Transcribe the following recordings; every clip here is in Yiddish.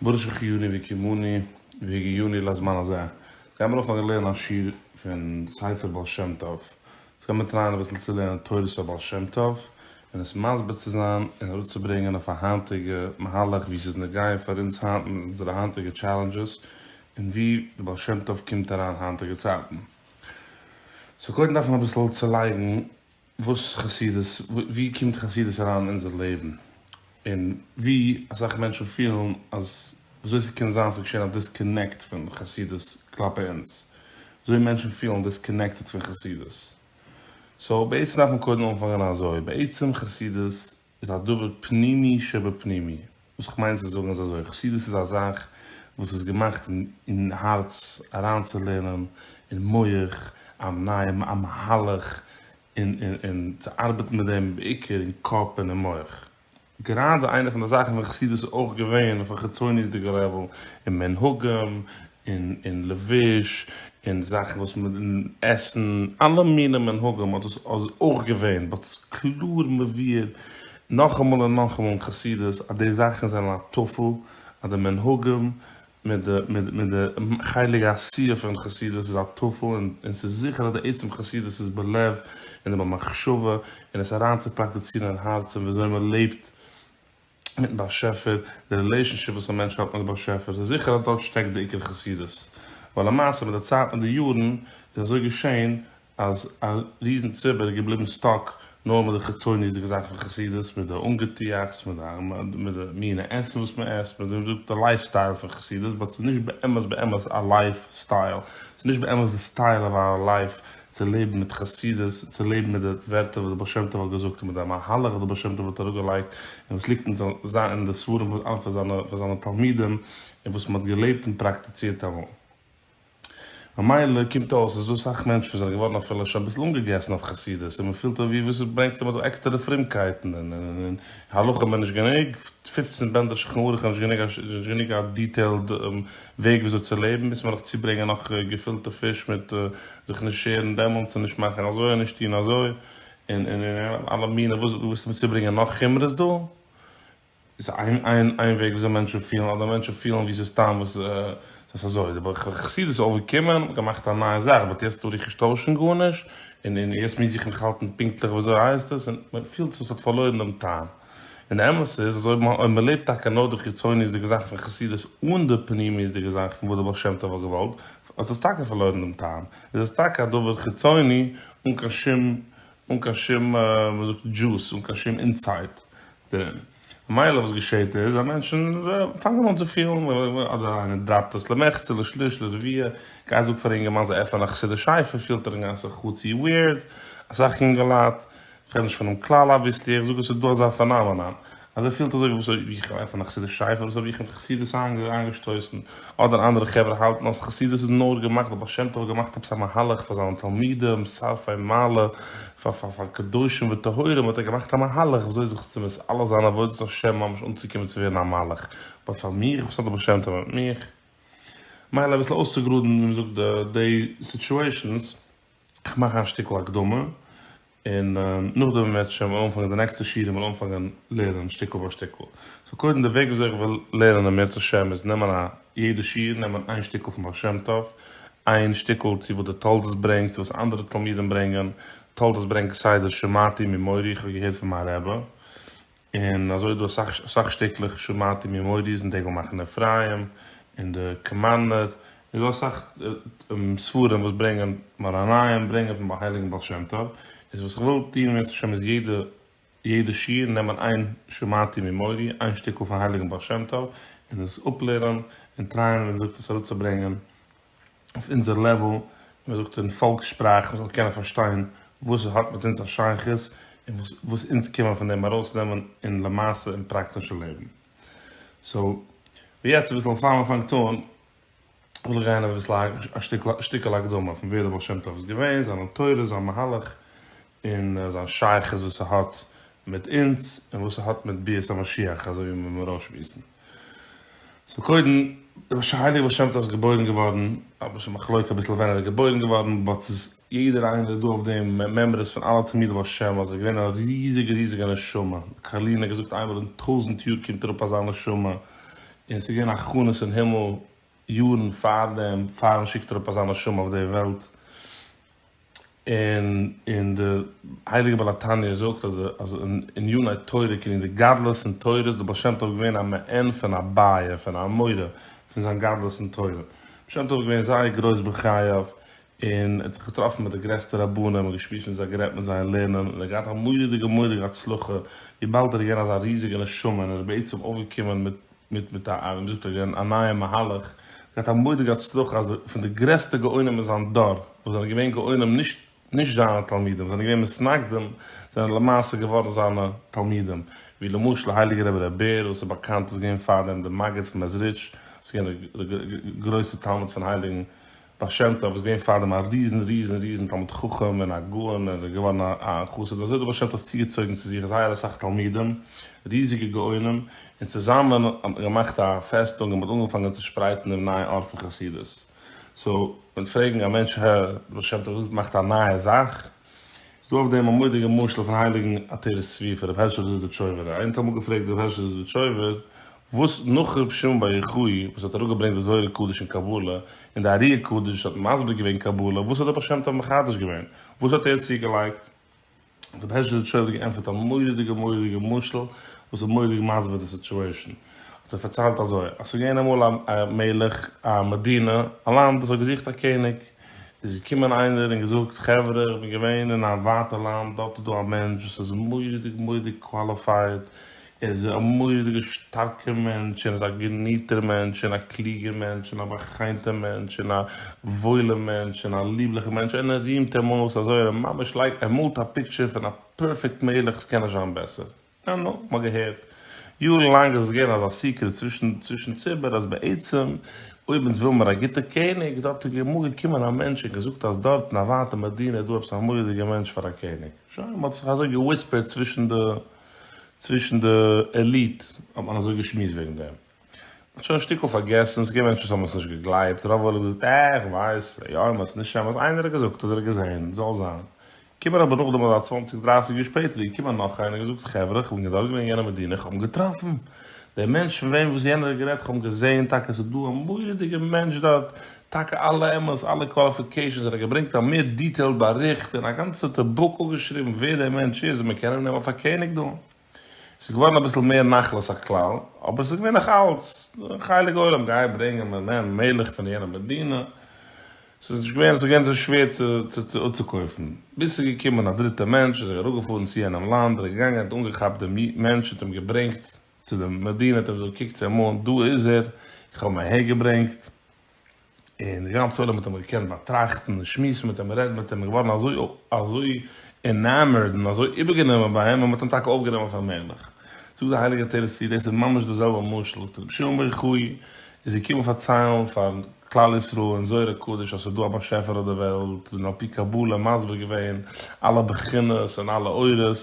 ברוך שהחייני והקימני והגיעני לזמן הזה, גיי מיר אויף א געלערן א שיעור פון ספר בעל שם טוב, איך גיי מיר טרייען אביסל צו לערנען תורת הבעל שם טוב און עס מסביר צו זיין און אראפצוברענגען אויף א היינטיגע מהלך ווי ס'איז נוגע פאר אונז היינט מיט אונזערע היינטיגע טשעלענדזשעס און ווי די בעל שם טוב קומט אריין היינטיגע צייטן. סאו קודם דארף מען אביסל צולייגן וואס חסידות, ווי קומט חסידות אריין אין אונזער לעבן, און ווי אסאך מענטשן פילן אז וויאזוי ס'קען זיין ס'איז געשען א דיסקאנעקט פון חסידות כלפי אונז, וויאזוי מענטשן פילן דיסקאנעקטעד פון חסידות. סאו בעצם דארף מען קודם אנפאנגען אזוי, בעצם חסידות איז א דבר פנימי שבפנימי, וואס איך מיין צו זאגן איז אזוי, חסידות איז א זאך וואס איז געמאכט אין הארץ אריינצולערנען אין מח א נייע א מהלך און און צו ארבעטן מיט דעם בעיקר אין קאפ און אין מח, גראדע איינע פון די זאכן פון חסידות איז אויך געווען אויף א חיצוניות'דיגע לעוועל אין מנהגים און און לבוש און זאכן וואס מען און עסן אלע מיני מנהגים האט דאס אויך געווען באט ס'איז קלאר מבאר נאכאמאל און נאכאמאל אין חסידות אז די זאכן זענען א טפל אז די מנהגים מיט די מיט די חלק העשייה פון חסידות איז א טפל און און ס'איז זיכער אז די עצם חסידות איז בלב און במחשבה און עס אריינצופראקטיצירן אין הארץ און וויאזוי מען לעבט מיטן באשעפער, די רילעישאנשיפ וואס א מענטש האט מיט די באשעפער, ס'איז זיכער אז דארט שטעקט די עיקר חסידות, ווייל למעשה מיט די צייט מיט די יארן איז אזוי געשען אז א ריזן ציבור איז געבליבן סטאק נאר מיט די חיצוניות'דיגע זאכן פון חסידות, מיט די אנגעטועכטס, מיט די מינע עסן וואס מען עסט, מיט די די לייף סטייל פון חסידות, באט ס'איז נישט באמת באמת א לייף סטייל, ס'איז נישט באמת די סטייל אוו אווער לייף צו לעבן מיט חסידות, צו לעבן מיט די ווערטער וואס דער בעל שם טוב האט געזאגט און מיט די מהלך וואס דער בעל שם טוב האט אראפגעלייגט און וואס ליגט אין די ספרים פון אלע פון זיינע תלמידים און וואס מען האט געלעבט און פראקטיצירט אמאל. ממילא קומט אויס אז דא סאך מענטשן וואס זענען געווארן אפילו שוין אביסל אנגעגעסן אויף חסידות און מען פילט אוי ווי וואס ברענגסטו מיר דא עקסטערע פרומקייטן און און און הלכה מער נישט גענוג, פֿופֿצן בענדער שולחן ערוך איז נישט גענוג א דיטעילד וועג וויאזוי צו לעבן, ביז מען וועט דיך צוברענגען נאך געפילטע פיש מיט זיך נישט שערן דעמאלטס און נישט מאכן אזוי און נישט טון אזוי, און און און אלע מיני וואס דו ווילסט מיר צוברענגען נאך חומרות דא? איז איין איין איין וועג וויאזוי מענטשן פילן, אדער מענטשן פילן ווי ס'איז סתם וואס ס'איז אזוי, די בח ח חסידות איז אויפגעקומען, געמאכט א נייע זאך, באט יעצט טאר איך נישט טוישן גארנישט, און און יעצט מוז איך מיך האלטן פונקטליך וויאזוי הייסט עס, און מען פילט וואס האט פארלוירן דעם טעם. און די אמת איז אז אויב אויב מען לעבט טאקע נאר די חיצוניות'דיגע זאכן פון חסידות אן די פנימיות'דיגע זאכן פון וואס די בעל שם טוב האט געוואלט, האט עס טאקע פארלוירן דעם טעם, איז עס טאקע א דבר חיצוני אן קיין שום אן קיין שום ווי מען זאגט דזשוס, אן קיין שום אינסייט דערין. ממילא וואס געשעהט איז אז מענטשן פאנגען אן צו פילן אדער איינער דראפט עס למחצה לשליש לרביע, גיי זאג פאר א אינגערמאן זיי עפענען א חסידיש ספר פילט ער אינגאנצן חצי וויערד, אסאך אינגעלייט כ'רעד נישט פונעם כלל אביסלי, איך זאג עס איז דא אזא פענאמענאן אז ער פילט אזוי ווי אזוי ווי איך עפען א חסידיש שייטל אדער אזוי ווי איך בין חסידות איינגעשטויסן אדער אנדערע חברה האלטן אז חסידות איז נאר געמאכט די בעל שם טוב האט געמאכט עפעס א מהלך פאר זיינע תלמידים שרפי מעלה פאר פאר פאר קדושים וטהורים האט ער געמאכט א מהלך ווי אזוי זיך צו מיט אלע זיין עבודת השם ממש אנצוקומען צו ווערן א מלאך באט פאר מיך וואס האט די בעל שם טוב מיט מיך מילא אביסל אויסצוגראדן ווי מ'זאגט די סיטועשאנס. איך מאך א שטיקל הקדמה, און נאכדעם וועט מען שוין אנפאנגען די נעקסטע שיעורים און אנפאנגען לערנען שטיקל ביי שטיקל. סאו קודם די וועג וויאזוי איך וויל לערנען אם ירצה ה' איז נעמען א יעדע שיעור נעמען איין שטיקל פון בעל שם טוב, איין שטיקל צו וואס די תולדות ברענגט, צו וואס אנדערע תלמידים ברענגען, תולדות ברענגט כסדר שמעתי ממורי איך האב געהערט פון מיין רבי, און אזוי איז דא אסאך שטיקלעך שמעתי ממורי איז אין דגל מחנה אפרים, אין די קאמארנער, איז דא אסאך ספרים וואס ברענגען מאראניים ברענגען פון הייליגן בעל שם טוב, איז וואס איך וויל טון בעזרת השם איז יעדע יעדע שיעור נעמען איין שמעתי ממורי איין שטיקל פון הייליגן בעל שם טוב און עס אפלערנען און טרייען ווי מען זאגט עס אראפצוברענגען אויף אונזער לעוועל ווי מען זאגט אין פאלקס שפראך מען זאל קענען פארשטיין וואס עס האט מיט אונז א שייכות און וואס וואס אונז קען מען פון דעם ארויסנעמען אין למעשה אין פראקטישע לעבן. סאו ווי יעצט אביסל פאר מען פאנגט אן וויל איך גיין אביסל א שטיקעל הקדמה פון ווער דער בעל שם טוב איז געווען, זיין נאטורע, זיין מהלך, און זיין שייכות וואס ס'האט מיט אונז, און וואס ס'האט מיט ביאת המשיח אזוי ווי מ'וועט מיר אויסשמועסן. סאו קודם, דער הייליגער בעל שם טוב איז געבוירן געווארן, אביסל א מחלוקה, אביסל ווען ער איז געבוירן געווארן, באט ס'איז יעדער איינער דא אויף דעם, מעמעריס פון אלע תלמידי בעל שם, אז ער איז געווען א ריזיגע ריזיגע נשמה, קארלין האט געזאגט איינמאל אין טויזנט יאר קומט אראפ אזא נשמה, און ס'איז געווען הכנות אין הימל יארן פאר דעם, פאר מ'שיקט אראפ אזא נשמה אויף די וועלט, און און די הייליגע בעל התניא זאגט אז אז אין עניני תורה קען יעדער גדלות און תורות, איז דער בעל שם טוב געווען א מעין פון א בעיה, פון א מורה, פון זיין גדלות און תורה. בעל שם טוב איז געווען זייער גרויס בחייו, און ער האט זיך געטראפן מיט די גרעסטע רבנים און געשמועסט מיט זיי גערעדט מיט זיי און לערנען און ער האט געהאט א מורא'דיגע מורא'דיגע הצלחה וויבאלד ער איז געווען אזא ריזיגע נשמה און ער איז בעצם אויפגעקומען מיט מיט מיט א ווי מ'זאגט אגעין א נייע מהלך געהאט א מורא'דיגע הצלחה אז די פון די גרעסטע גאונים אין זיין דור וואס זענען געווען גאונים נישט נישט זיינע תלמידים זענען געווען מתנגדים זענען למעשה געווארן זיינע תלמידים ווי למשל הייליגער רבי ר' בער וואס איז באקאנט איז געווען פארדעם די מגיד פון מעזריטש וואס איז געווען די גרויסע תלמיד פון הייליגן בעל שם טוב איז געווען פארדעם א ריזן ריזן ריזן תלמיד חכם און א גאון און ער איז געווארן א א חסיד אזוי האט דער בעל שם טוב צוגעצויגן צו זיך זייער אסאך תלמידים ריזיגע גאונים און צוזאמען האט מען געמאכט א פעסטונג און מען האט אנגעפאנגען צו שפרייטן דעם נייעם אור פון חסידות סאו ווען פרעגן א מענטש הער דער בעל שם טוב זאגט מאכט א נייע זאך איז דא אויף דעם א מודיגע משל פון הייליגן עטרת צבי ר' הערשל זידיטשויבער. איינער האט אמאל געפרעגט ר' הערשל זידיטשויבער וואס נאך ר' שמעון בר יוחאי וואס האט אראפגעברענגט די זוהר הקדוש און קבלה און די ארי הקדוש האט מסביר געווען קבלה וואס האט די בעל שם טוב מחדש געווען? וואס האט ער צוגעלייגט? האט ר' הערשל זידיטשויבער געענטפערט א מורא'דיגע מורא'דיגע משל וואס איז מורא'דיג מסביר די סיטועשאן. האט ער פארציילט אזוי אז ס'איז געווען אמאל א מלך א מדינה א לאנד וואס האט געזוכט א קעניג. איז געקומען איינער און געזאגט, חברה איך בין געווען אין א ווייטע לאנד, דארט איז דא א מענטש וואס איז מורא'דיג מורא'דיג קוואליפייד, ער איז א מורא'דיגע שטארקע מענטש, ער איז א געניטער מענטש, און א קלוגער מענטש, און א באחיינטער מענטש, און א וואוילער מענטש, און א ליבליכער מענטש, און ער רימט אים אויס אזוי, און ער ממש לייגט, ער מאלט א פיקטשער פון א פערפעקט מלך, ס'קען נישט זיין בעסער. נו נו, מ'האט געהערט יארן לאנג איז עס געווען אזא סיקרעט צווישן ציבור אז בעצם אויב אונז וויל מיר א גוטע קעניג איז דארט אמאל געקומען א מענטש און געזאגט אז דארט אין א ווייטע מדינה איז דא עפעס א מורא'דיגע מענטש פאר א קעניג. שוין, מ'האט זיך אזוי געוויספערט צווישן די צווישן די עליט האט מען אזוי געשמועסט וועגן דעם. האט שוין שטיקל פארגעסן, ס'געווען מענטשן וואס האבן עס נישט געגלייבט, רוב האבן געזאגט אה איך ווייס, יא אמת ס'איז נישט אמת, איינער האט געזאגט אז ער האט געזען, זאל זיין. קומען אבער נאכדעם אזא צוואנציג דרייסיג יאר שפעטער איז געקומען נאך איינער און געזאגט חברה איך בין דארט געווען יענע מדינה איך האב געטראפן דעם מענטש פון וועם וואס יענער האט גערעדט איך האב געזען טאקע ס'איז דא א מורא'דיגע מענטש דארט טאקע אלע אמת אלע קוואליפיקעישאנס ער האט געברענגט א מער דיטעילד באריכט און א גאנצע בוק אפגעשריבן ווער דער מענטש איז און מ'קען אים נעמען פאר קעניג דא. ס'איז געווארן אביסל מער נחלת הכלל, אבער ס'איז געווען נאכאלץ חלק עולם גיי ברענגען מנין מלך פון יענע מדינה, ס'איז נישט געווען ס'איז געווען זיי שווער צו אפצוקויפן, ביז ס'איז געקומען א דריטע מענטש איז ער אראפגעפארן צו יענעם לאנד, ער איז געגאנגען האט אנגעכאפט דעם מענטש האט אים געברענגט צו די מדינה האט אים געזאגט קוק צו אים אן דא איז ער איך האב אים אהער געברענגט, און די גאנצע עולם האט אים געקענט באטראכטן און שמועסן מיט אים, רעדן מיט אים, און געווארן אזוי אזוי ענאמערד און אזוי איבערגענומען ביי אים אז מען האט אים טאקע אויפגענומען פאר מלך. זאגט די הייליגע תורת צבי, דאס איז ממש דאס זעלבע משל, זאגט רבי שמעון בר יוחאי איז געקומען פארציילן פאר כלל ישראל אין זוהר הקדוש אז ס'איז דא א באשעפער אויף די וועלט, און על פי קבלה מסביר געווען אלע בחינות און אלע אורות, און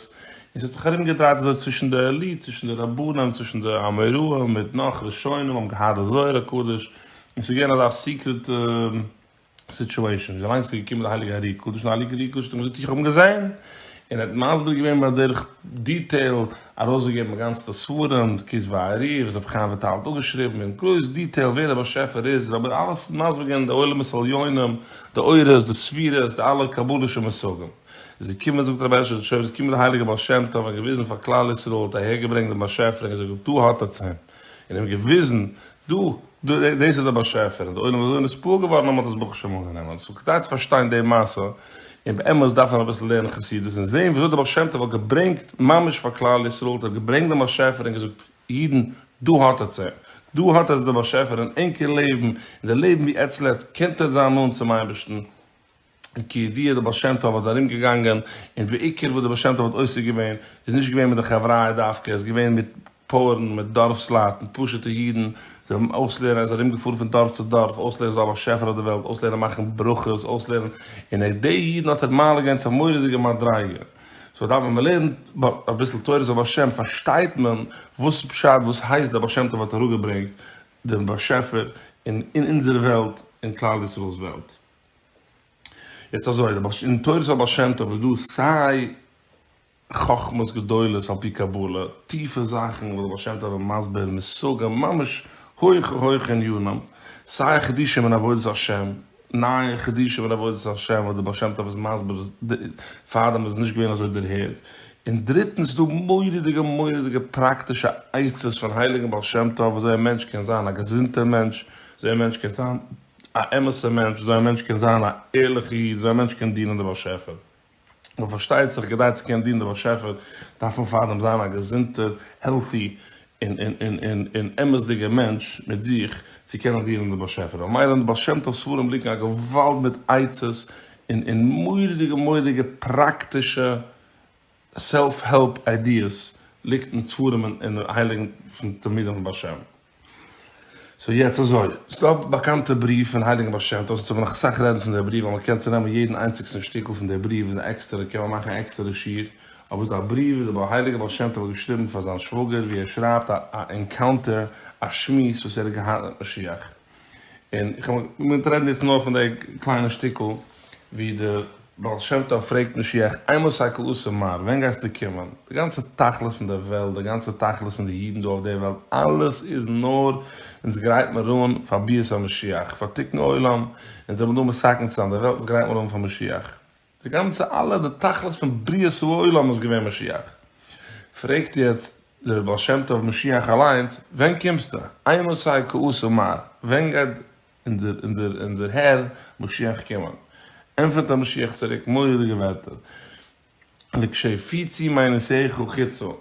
ס'האט זיך ארומגעדרייט אזוי צווישן די עליט, צווישן די רבנים, צווישן די אמוראים, מיט נאך ראשונים האבן געהאט די זוהר הקדוש, און ס'איז געווען אזא סיקרעט סיטואשען, וויאזאנג ס'איז געקומען די הייליגע ארי קדוש, און ארי קדוש האט אים געזאגט איך האב אים געזען, און ער האט מסביר געווען בדרך דיטעיל, ארויסגעגעבן גאנצעטע ספרים, דקות והארי, וואס רבי חיים וויטאל האט אפגעשריבן אין גרויס דיטעיל ווער דער באשעפער איז, רבי אלעס מסביר געווען די עולמות עליונים, די אורות, די ספירות, די אלע קבלה'ישע מושגים. איז געקומען זאגט רבי הערשעלע טשויבער איז געקומען די הייליגע בעל שם טוב און געוויזן פאר כלל ישראל, האט אהערגעברענגט דעם באשעפער און געזאגט דא האט עטס אים, און אים געוויזן דא, דא, דאס איז דער באשעפער, און דער עולם איז אזוי נתפעל געווארן אז מען האט עס ברוך השם אנגענומען. סאו כדאי צו פארשטיין די מעשה, און באמת דארף מען אביסל לערנען חסידות און זען וויאזוי דער בעל שם טוב האט געברענגט ממש פאר כלל ישראל, האט ער געברענגט דעם באשעפער און געזאגט, אידן, דא האט עטס אים, דא האט עטס דעם באשעפער אין ענקער לעבן, און די לעבן ווי עטס לעבט, קענט עטס זיין נאנט צום אייבערשטן. און כידוע די בעל שם טוב האט ארום געגאנגען און בעיקר וואס די בעל שם טוב האט עוסק געווען איז נישט געווען מיט די חבריא דווקא ער איז געווען מיט פארן מיט דארפסלייט מיט פשוטע אידן זיי האבן אויסלערנען ער איז ארום געפארן פון דארף צו דארף אויסלערנען זאל השפע אויף די וועלט אויסלערנען מאכן ברכות אויסלערנען און ער די אידן האט ער מעלה געווען צו א מורא'דיגע מדריגה סאו דארף ווען מ'לערנט אביסל תורת הבעל שם פארשטייט מען וואס איז פשט וואס הייסט די בעל שם טוב האט אראפגעברענגט דעם באשעפער אין אונזער וועלט אין כלל ישראל'ס וועלט. יעצט אזוי, אין תורת הבעל שם טוב איז דא סיי חכמות גדולות על פי קבלה, טיפע זאכן וואס בעל שם טוב איז מסביר מושגים ממש הויכע הויכע ענינים, סיי חידושים אין עבודת השם, נייע חידושים אין עבודת השם וואס דער בעל שם טוב איז מסביר פארדעם איז נישט געווען אזוי דערהערט, און דריטנס איז דא מורא'דיגע מורא'דיגע פראקטישע עצות פון הייליגן בעל שם טוב וויאזוי א מענטש קען זיין א געזונטער מענטש, וויאזוי א מענטש קען זיין. א אמת'ע מענטש, אזוי א מענטש קען זיין א ערליכע איד, אזוי א מענטש קען דינען די באשעפער. נאר פארשטייט זיך כדי צו קענען דינען די באשעפער דארף מען פארדעם זיין א געזונטער, העלטי, און און און און און אמת'דיגער מענטש מיט זיך צו קענען דינען די באשעפער. ממילא אין די בעל שם טוב ספרים ליגן א געוואלד מיט עצות און און מורא'דיגע מורא'דיגע פראקטישע סעלף העלפ איידיעס ליגט אין ספרים און און הייליגן פון תלמידי הבעל שם. סאו יעצט אזוי, ס'דא א באקאנטע בריוו פון הייליגן בעל שם טוב, ס'צריך מען נאך אסאך רעדן פון דער בריוו, ווייל מען קען צונעמען יעדן איינציגסטן שטיקל פון דער בריוו איז עקסטערע קען מען מאכן א עקסטערע שיעור, אבער ס'דא א בריוו וואס דער הייליגער בעל שם טוב האט געשריבן פאר זיין שוואגער ווי ער שרייבט א ענקאונטער, א שמועס וואס ער האט געהאט מיט משיח. און איך האב מיט רעדן יעצט נאר פון דער קליינע שטיקל ווי דער בעל שם טוב פרעגט משיח איי מאסט הייקל עשה מר ווען גייסטו קומען? די גאנצע תכלית פון דער וועלט, די גאנצע תכלית פון די אידן דא אויף דער וועלט, אלעס איז נאר אונז גרייט מיר אן פאר ביאת המשיח, פאר תיקון עולם, אונז זעמיר דא מסכן צו זיין דער וועלט, אונז גרייט מיר אן פאר משיח. די גאנצע אלע די תכלית פון בריאת העולם איז געווען משיח. פרעגט יעצט דער בעל שם טוב משיח אליינס ווען קומסטו? איי נוסעי כעוס ומר, ווען גייט אונזער אונזער אונזער הער משיח קומען? ענטפערט דער משיח צוריק מורא'דיגע ווערטער, לקשי פיצי מיינוסיך חיצו,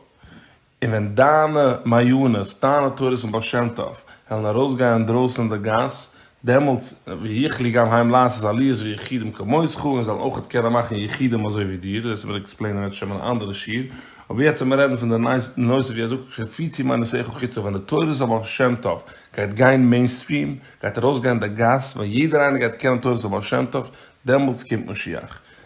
און ווען דיינע מעיונעס, דיינע תורות פון בעל שם טוב, וועלן ארויסגיין אינדרויסן אין די גאס, דעמאלטס ויוכלי גם העם לעשות עליות ויחידים כמותך, און זאלן אויך קענען מאכן יחידים אזוי ווי דיר, וועסטו מיר עקספלעינען עטשעם אין א אנדערע שיעור, אבער יעצט העמער רעדן פון די נושא ווי ער זאגט שהפיצי מעניסיך חוצה ווען די תורות פון בעל שם טוב גייט גיין מעינסטריעם, גייט ארויסגיין אין די גאס, ווען יעדער איינער גייט קענען תורות פון בעל שם טוב, דעמאלטס קומט משיח.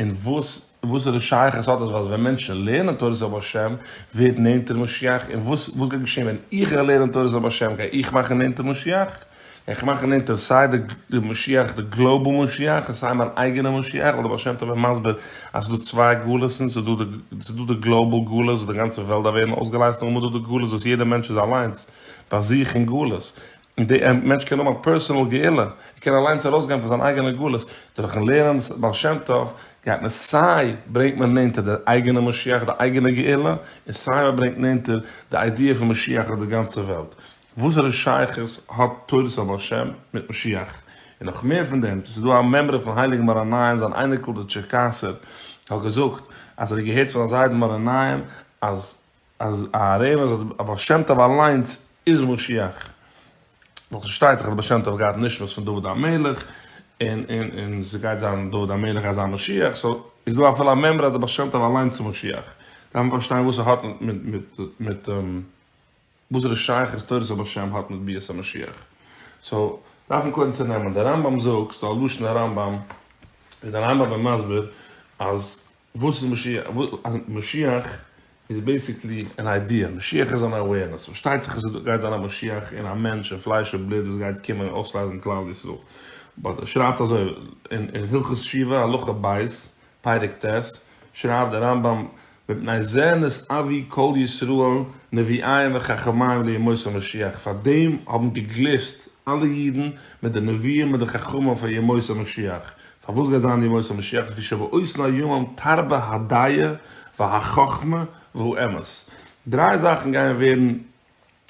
און וואס וואסערע שייכות האט עס אז ווען מענטשן לערנען תורת זאב השם ווערט נענטער משיח און וואס וואס גייט געשען ווען איך גיי לערנען תורת זאב השם גיי איך מאכן נענטער משיח גיי איך מאכן נענטער סיי די משיח די גלאובעל משיח און סיי מיין אייגענע משיח ווייל די בעל שם טוב איז מסביר אז ס'איז דא צוויי גלות'ן ס'איז דא די ס'איז דא די גלאובעל גלות וואס די גאנצע וועלט דארף ווערן אויסגעלייזט און נאכדעם איז דא די גלות וואס יעדער מענטש איז אליינס ביי זיך אין גלות. און די מענטש קען האבן א פערסאנעל גאולה, ער קען אליינס ארויסגיין פון זיין אייגענע גלות, דורכן לערנען בעל שם טוב גייט מען סיי ברענגט מען נענטער די אייגענע משיח די אייגענע גאולה, און סיי מען ברענגט נענטער די איידיע פון משיח אויף די גאנצע וועלט, וואסערע שייכות האט תורת הבעל שם מיט משיח? און נאך מער פון דעם, ס'איז דא א מימרא פון הייליגן מאור עיניים, זיין אייניקל דער טשערקאסער האט געזאגט אז ער האט געהערט פון זיין זיידן מאור עיניים אז. אז אהרן אז הבעל שם טוב אליינס איז משיח, ווייל ס'שטייט דאך אז הבעל שם טוב האט געהאט נשמת פון דוד המלך, און און און ס'גייט זיין דוד המלך אז זיין משיח, סאו איז דא אפילו א מימרא אז הבעל שם טוב אליינס איז משיח, דארף מען פארשטיין וואס ס'האט מיט מיט מיט וואסערע שייכות תורת הבעל שם האט מיט ביאת המשיח, סאו דארף מען קודם צונעמען די רמב ם זאגסט א לשון הרמב ם, איז די רמב ם מסביר אז וואס איז משיח? משיח איז בעיסיקלי אן איידיע, משיח איז אן אווערנעס, פארשטייט זיך אז ס'גייט זיין א משיח אין א מענטש אין פלייש און בלוט וואס גייט קומען און אויסלייזן כלל ישראל, באט ער שרייבט אזוי אין הלכות שיבה הלכה ב' פרק ט' שרייבט דער רמב ם מפני זה נס אבי כל ישראל נביאיהם וחכמיהם לימות המשיח פאר דעם האבן געגליסט אלע אידן מיט די נביאים מיט די חכמים פאר ימות המשיח פארוואס גייט זיין ימות המשיח לפי שבע אויס נאר יומם תרבה הדיה והחכמה והאמת דריי זאכן גייען ווערן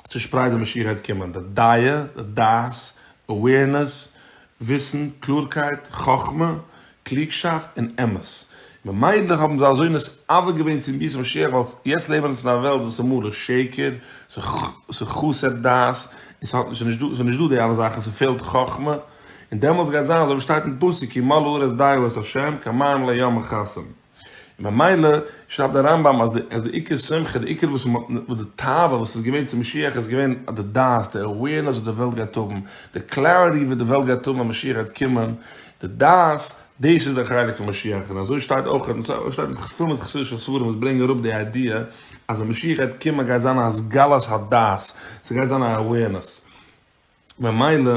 צושפרייט ווען משיח גייט קומען די דיה די דעת אווערנעס וויסן קלארקייט חכמה קלוגשאפט און אמת ממילא האבן זיי אזוי נתעוור געווען צום ביאת משיח ווייל יעצט לעבן אונז אין א וועלט וואס איז מלא שקר ס'איז חסר דעת און ס'האט נישט ס'איז נישט דא ס'איז נישט דא די אלע זאכן ס'פעלט חכמה. און דעמאלטס גייט זיין אזוי ווי שטייט אין פסוק כי מלאה ארץ דיו את ה' כמים לעי' מכסים, און ממילא שרייבט דער רמב ם אז די עיקר שמחה, די עיקר וואס די תאווה וואס איז געווען צו משיח איז געווען די דעת, די awareness וואס די וועלט גייט האבן, די clarity וואס די וועלט גייט האבן ווען משיח גייט קומען, די דעת, דאס איז די חלק פון משיח, און אזוי שטייט אויך און אזוי שטייט נאך פול מיט חסידישע ספרים וואס ברענגען אראפ די איידיע אז ווען משיח גייט קומען גייט זיין א הסגלת הדעת, ס'גייט זיין א awareness. ממילא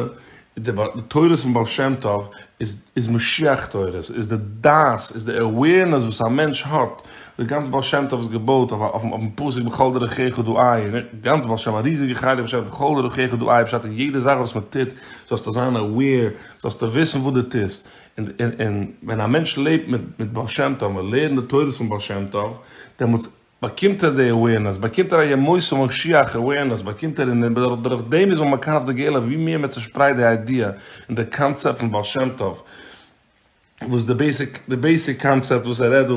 איז די תורות פון בעל שם טוב איז איז משיח תורות, איז די דעת, איז די עווערנעס וואס א מענטש האט, די גאנץ בעל שם טוב איז געבויט אויף אויפן פסוק בכל דרכיך דו עי', און נישט גאנץ בעל שם, א ריזיגע חלק פשט בכל דרכיך דו עי', פשט אין יעדע זאך וואס מען טוט זאלסטו זיין עוועיר, זאלסטו וויסן וואס דו טוסט, און און און ווען א מענטש לעבט מיט מיט בעל שם טוב, מען לערנט די תורות פון בעל שם טוב, דעמאלטס. באקומט ער די אווערנעס, באקומט ער א ימות המשיח אווערנעס, באקומט ער און דורך דעם איז מען מקרב די גאולה, ווי מער מען צושפרייט די איידיע און די קאנצעפט פון בעל שם טוב, וואס די בעיסיק די בעיסיק קאנצעפט וואס ער רעדט דא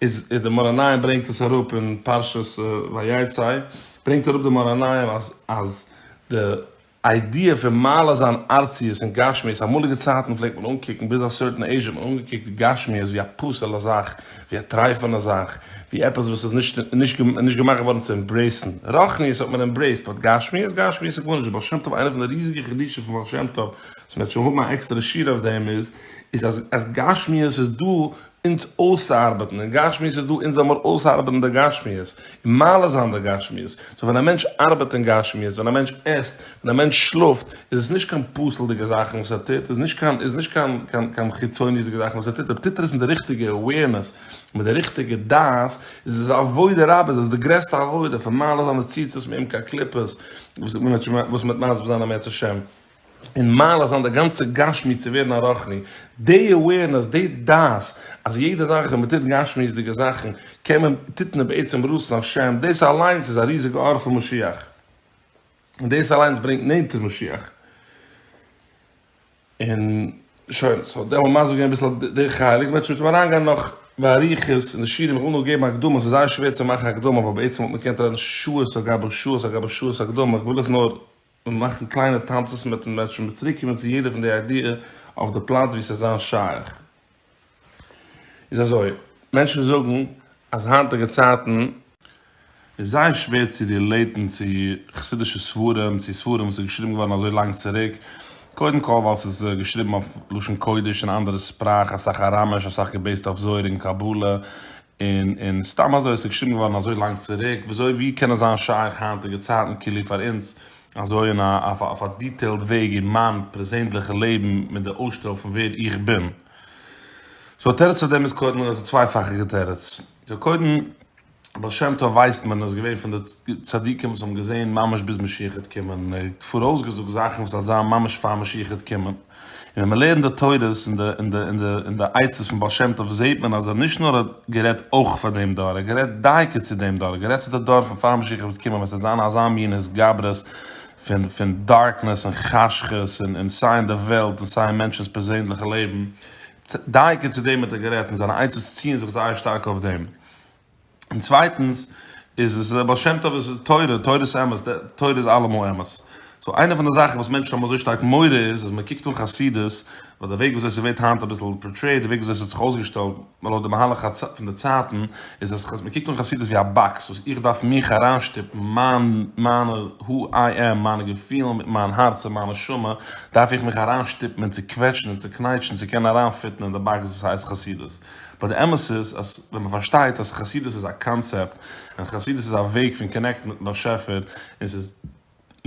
איז איז די מאור עיניים ברענגט עס אראפ אין פרשת ויצא, ברענגט אראפ די מאור עיניים אז אז די איידיע פון מעלה זיין ארציות און גשמיות, אמאליגע צייטן פלעגט מען אנקוקן ביז א סערטען עיזש האט מען אנגעקוקט גשמיות ווי א פסול'ע זאך, ווי א טרייפענע זאך, ווי עפעס וואס איז נישט נישט געמאכט געווארן צו עמברעיסן, רוחניות האט מען עמברעיסט, באט גשמיות? גשמיות איז גארנישט, בעל שם טוב איינע פון די ריזיגע חידושים פון בעל שם טוב וואס מען וועט שוין האבן א עקסטערע שיעור אויף דעם איז אז גשמיות איז דא אונז אויסארבעטן אין גשמיות איז דא אונז זאל מיר אויסארבעטן די גשמיות און מעלה זיין די גשמיות, סאו ווען א מענטש ארבעט אין גשמיות, ווען א מענטש עסט, ווען א מענטש שלאפט, איז עס נישט קיין פסול'דיגע זאכן וואס ער טוט, איז נישט קיין איז נישט קיין קיין קיין חיצוניות'דיגע זאכן וואס ער טוט, אויב טוט ער עס מיט די ריכטיגע אוועירנעס, מיט די ריכטיגע דעת, איז עס עבודה רבה, איז עס די גרעסטע עבודה, פון מעלה זיין די ציצית מעמקי הקליפות, וואס מיט וואס מיט מסביר זיין א מעט השם. און מעלה זיין די גאנצע גשמיות צו ווערן א רוחני, די אווערנעס, די דעת אז יעדע זאך ווען מען טוט גשמיות'דיגע זאכן קען מען, טוט מען בעצם רצון השם, דאס אליינס איז א ריזיגע אור פון משיח, און דאס אליינס ברענגט נענטער משיח. און שוין, סאו דער מאמר איז געווען אביסל די חלק, וועט שוין אריין גיין נאך באריכות אין די שיעורים, איך וויל נאר געבן הקדמה, ס'איז זייער שווער צו מאכן הקדמה ווייל בעצם וואלט מען געקענט רעדן שעות על גבי שעות על גבי שעות הקדמה, איך וויל עס נאר. און מאכן קליינע טאנצעס מיטן מענטשן מיט צוריקקומען צו יעדע פון די איידיע אויף די פלאץ ווי ס'איז זיין שייך איז אזוי, מענטשן זאגן אז היינטיגע צייטן. איז זייער שווער צו רילעיטן צו חסידישע ספרים, צו ספרים וואס איז געשריבן געווארן אזוי לאנג צוריק, קודם כל ווייל ס'איז געשריבן אויף לשון קודש און אנדערע שפראך, אסאך אראמיש, אסאך געבעיסט אויף זוהר און קבלה, און און סתם אזוי עס איז געשריבן געווארן אזוי לאנג צוריק, ווי אזוי ווי קען עס זיין שייך היינטיגע צייטן כאילו פאר אונז אזוי אין א אויף א אויף א דיטעילד וועג אין מיין פרעזענדליכע לעבן מיט די אויסשטעל פון ווער איך בין. סאו תירוץ פאר דעם איז קודם איז א צווייפאכיגע תירוץ. סאו קודם בעל שם טוב ווייסט מען איז געווען פון די צדיקים וואס האבן געזעהן ממש ביז משיח העט קומען און ער האט פאראויס געזאגט זאכן וואס עט זיין ממש פאר משיח העט קומען. און ווען מ'לערנט די תורות און די און די און די עצות פון בעל שם טוב זעהט מען אז ער האט נישט נאר גערעדט אויך פאר דעם דור, ער האט גערעדט דייקא צו דעם דור, גערעדט צו די דור פון פאר משיח וועט קומען ווען ס'וועט זיין אזא מין התגברות פון פון דארקנעס און חשכות און און סיי אין די וועלט און סיי אין מענטשנ'ס פערזענליכע לעבן, דייקא צו דעם האט ער גערעדט און זיינע עצות ציען זיך זייער שטארק אויף דעם. און צווייטענס איז עס בעל שם טוב איז תורה, תורה איז אמת, די תורה איז אלעמאל אמת. סאו איינע פון די זאכן וואס מענטשן האבן אזוי שטארק מורא איז אז מען קוקט אן חסידות, ווייל די וועג וויאזוי ס'ווערט היינט אביסל פארטרעיט, די וועג וויאזוי ס'האט זיך אויסגעשטעלט לויט די מהלך הת ס פון די צייטן, איז אז מען קוקט אן חסידות ווי א באקס וואס איך דארף מיך אריינשטופן, מיין מיינע הו איי עם, מיינע געפילן מיט מיין הארץ און מיין נשמה, דארף איך מיך אריינשטופן און צוקוועטשן און צוקנייטשן צו קענען אריינפיטן אין די באקס וואס הייסט חסידות. באט די אמת איז אז ווען מען פארשטייט אז חסידות איז א קאנצעפט און חסידות איז א וועג פון קאנעקטן מיטן באשעפער און ס'איז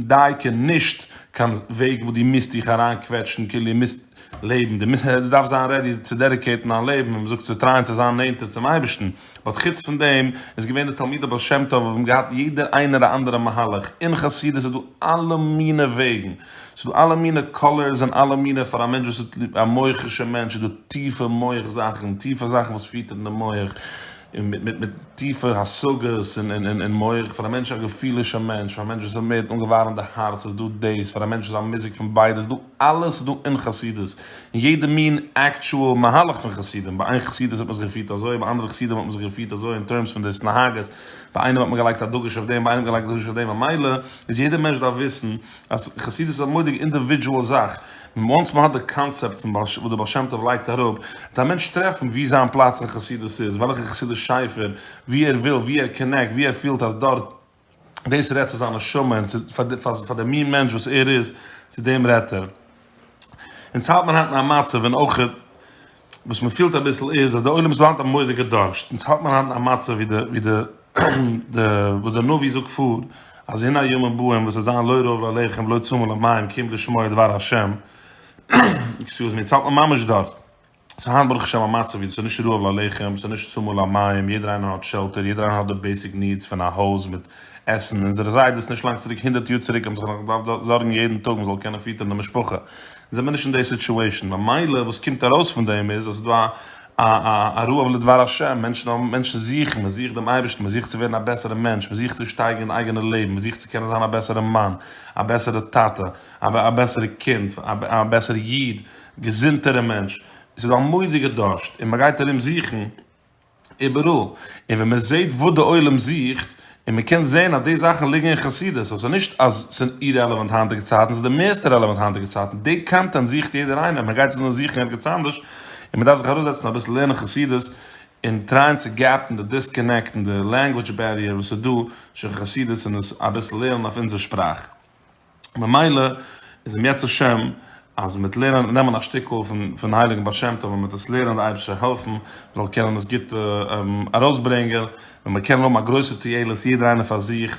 דייקא נישט קיין וועג וואס דו מוזט דיך אריינקוועטשן כאילו דו מוזט לעבן דו מוזט דו דארפסט זיין רעדי צו דעדיקעיטן דיין לעבן ווי מען זאגט צו טרייען צו זיין נענטער צום אייבערשטן באט חוץ פון דעם איז געווען די תלמידי בעל שם טוב האבן געהאט יעדער איינער א אנדערע מהלך אין חסידות איז דא אלע מיני וועגן. ס'איז דא אלע מינע קאלערס און אלע מינע פאר א מענטש וואס האט ליב א מוח'ישע מענטש איז דא טיפע מוח זאכן טיפע זאכן וואס פירט אין די מוח און מיט מיט מיט טיפע השגות און און און מוח פאר א מענטש א געפילישע מענטש פאר א מענטש וואס איז מער אנגעווארעמט די הארץ איז דא דאס פאר א מענטש וואס א מיזוג פון ביידע ס'איז דא אלעס איז דא אין חסידות און יעדע מין עקטשועל מהלך פון חסידים ביי איין חסידות האט מען זיך געפירט אזוי ביי אנדערע חסידים האט מען זיך געפירט אזוי אין טערמס פון דאס נהגות ביי איינעם האט מען געלייגט א דגוש אויף דעם ביי איינעם געלייגט א דגוש אויף דעם ממילא איז יעדע מענטש דארף וויסן אז חסידות איז א מורא'דיגע אינדיווידזשועל זאך, וואנס מען האט די קאנצעפט פון וואס דער בעל שם טוב לייגט אראפ, וועט א מענטש טרעפן וואו זיין פלאץ אין חסידות איז, וועלכע חסידות שייפער, וואו ער וויל, וואו ער קאנעקט, וואו ער פילט אז דארט דאס רעדט צו זיין נשמה און צו פאר די מין מענטש וואס ער איז, צו דעם רעדט ער. אונז האלט מיר היינט אין א מצב, און אויך וואס מען פילט אביסל איז אז די עולם איז דא היינט א מורא'דיגע דארשט, אונז האלט מען היינט אין א מצב ווי די ווי די די וואס די נביא זאגט פאר אז הנה הימים באים וואס עס זיין לא ירעב לאלהיכם ולא צמא למים כי אם לשמוע דבר השם, עקסיוז מי, אונז האלט מען ממש דארט, עס איז היינט ברוך השם א מצב ווי עס איז נישט רעב לאלהיכם, עס איז נישט צמא למים, יעדער איינער האט שעלטער, יעדער איינער האט די בעיסיק נידס פון א הויז מיט עסן, אונזערע זיידעס נישט לאנג צוריק הונדערט יאר צוריק האבן זיך נאך געדארפט זארגן יעדן טאג מען זאל קענען פיטערן די משפחה, זענען מיר נישט אין די סיטועשאן, ממילא וואס קומט ארויס פון דעם איז אז ס'איז דא א רעב לדבר השם, מענטשן זוכן, מען זוכט דעם אייבערשטן, מען זוכט צו ווערן א בעסערע מענטש, מען זוכט צו שטייגערן די אייגענע לעבן, מען זוכט צו קענען זיין א בעסערע מאן, א בעסערע טאטע, א בעסערע קינד, א בעסערע איד, געזונטערע מענטש, ס'איז דא א מודי'גע דארשט און מען גייט ארום זוכן, איבעראל, און ווען מען זעט וואס די עולם זוכט, און מען קען זען אז די זאכן ליגן אין חסידות, אזוי ס'איז נישט אז ס'איז אירעלעווענט היינטיגע צייטן, ס'איז די מערסטע רעלעווענט היינטיגע צייטן, די קאנטענט זוכט יעדער איינער, מען גייט עס נאר זוכן ערגעץ אנדערש, און מען דארף זיך אראפזעצן אביסל לערנען חסידות, און טרייען צו געפן די דיסקאנעקט און די לענגוויטש בעריער וואס איז דא, שוין חסידות און עס אביסל לערנען אויף אונזער שפראך. ממילא איז אם ירצה השם אז מיט לערנען נעמען א שטיקל פון הייליגן בעל שם טוב און מיט עס לערנען די אייבערשטער העלפן מען זאל קענען עס גוט ארויסברענגען ווען מיר קענען האבן א גרויסע תועלת יעדער איינער פאר זיך